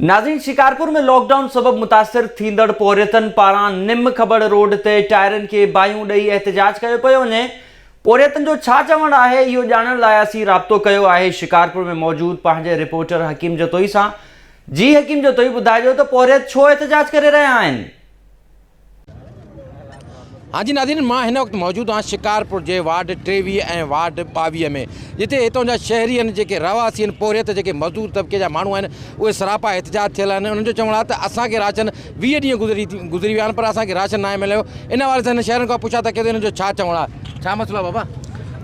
ناظرين Shikarpur ۾ lockdown سبب متاثر ٿيندڙ پورهيتن پاران نم کٻڙ روڊ تي ٽائرن کي باهيون ڏئي احتجاج ڪيو پيو وڃي پورهيتن جو ڇا چوڻ آهي اهو ڄاڻڻ لاء اسين رابطو ڪيو آهي شڪارپور ۾ موجود پنهنجي رپورٽر حڪيم جتوئي سان جي حڪيم جتوئي ٻڌائجو ته پورهيت ڇو احتجاج ڪري رهيا آهن. ها جي ناظرين مان هن وقت موجود آهيان شڪارپور جي وارڊ ٽيويهه ۽ وارڊ ٻاويهه ۾ جتي هتان جا شهري آهن جيڪي رهواسي آهن پورهيت جيڪي مزدور طبقي جا ماڻهو آهن اهي سراپا احتجاج ٿيل آهن انهن جو چوڻ آهي ته اسان کي راشن ويهه ڏينهن گذري گذري ويا آهن پر اسان کي راشن ناهي مليو ان حوالي سان هن شهرين کان پڇا ته ڪي ته هن جو ڇا چوڻ آهي ڇا مسئلو آهي بابا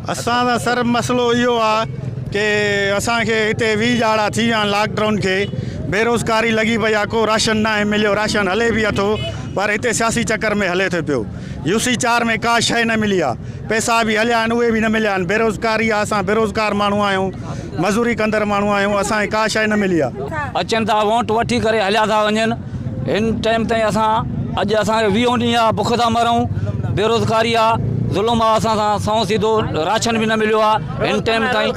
اسان سان صرف مسئلو اهو آ ڪي اسان کي هتي ويهه ڄاڙا ٿي ويا آهن لاڪ ڊائون کي بيروزگاري لڳي پئي آ ڪو راشن ناهي مليو راشن هلي به اٿو پر هتي سياسي چڪر ۾ هلي ٿو پيو يو سي چار ۾ ڪا شئي نه ملي آ پئسا به هليا آهن اهي به نه مليا آهن بيروزگاري آ اسان بيروزگار ماڻهو آهيون مزوري ڪندڙ ماڻهو آهيون اسان کي ڪا شيء نه ملي آهي. اچن ٿا وونٽ وٺي ڪري هليا ٿا وڃن هن ٽيم تائين اسان اڄ اسان کي ويهون ڏينهن آهي بک ٿا مرون بيروزگاري آهي ظلم آهي اسان سان سنئون سيڌو راشن به نه مليو آهي هن ٽيم تائين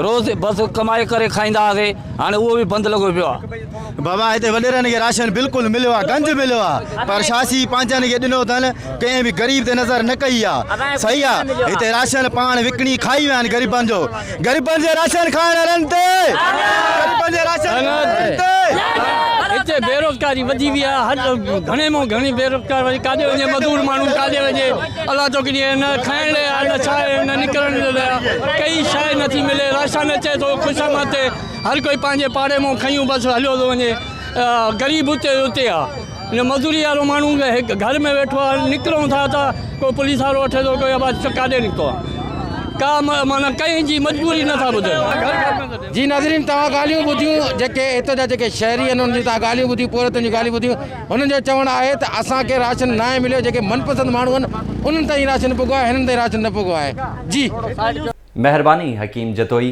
روز بس ڪمائي ڪري کائيندا هئاسي هاڻي اهو به بند لڳو پيو آهي. بابا هتي وڏيرن کي راشن بلڪل مليو آ گنج مليو آ پر شاسي پنهنجن کي ڏنو اٿن ڪنهن به غريب تي نظر نه ڪئي آ صحيح آ هتي راشن پاڻ وڪڻي کائي ويا آهن غريبن جو غريبن جي راشن کائڻ وارن تي غريبن جي راشن کائڻ وارن تي هتي بيروزگاري وڌي وئي آهي هر گهڻي مون گهڻي بيروزگار وڃي ڪاڏي وڃي مزور ماڻهو ڪاڏي وڃي الله تو ڪني نه کائڻ لاء نه ڇا نه نڪرڻ لاء ڪئي شايد نه ٿي ملي راشن اچي ٿو خوشامد تي هر ڪوئي پنهنجي پاڙي مون کنيون بس هليو ٿو وڃي غريب اتي جو اتي آهي ان مزوري وارو ماڻهو هڪ گهر ۾ ويٺو آهي نڪرون ٿا ته ڪو پوليس وارو وٺي ٿو ڪو يا ڪاڏي نڪتو آهي ڪا معنيٰ ڪنهن جي مجبوري نٿا ٻڌن جي ناظرين توهان ڳالهيون ٻڌيون جيڪي هت جا جيڪي شهري آهن انهن جون توهان ڳالهيون ٻڌيون پورهيتن جون ڳالهيون ٻڌيون هنن جو چوڻ آهي ته اسان کي راشن ناهي مليو جيڪي من پسند ماڻهو آهن انهن تائين راشن پڳو آهي هنن تائين راشن نه پڳو آهي جي مهرباني حڪيم جتوئي.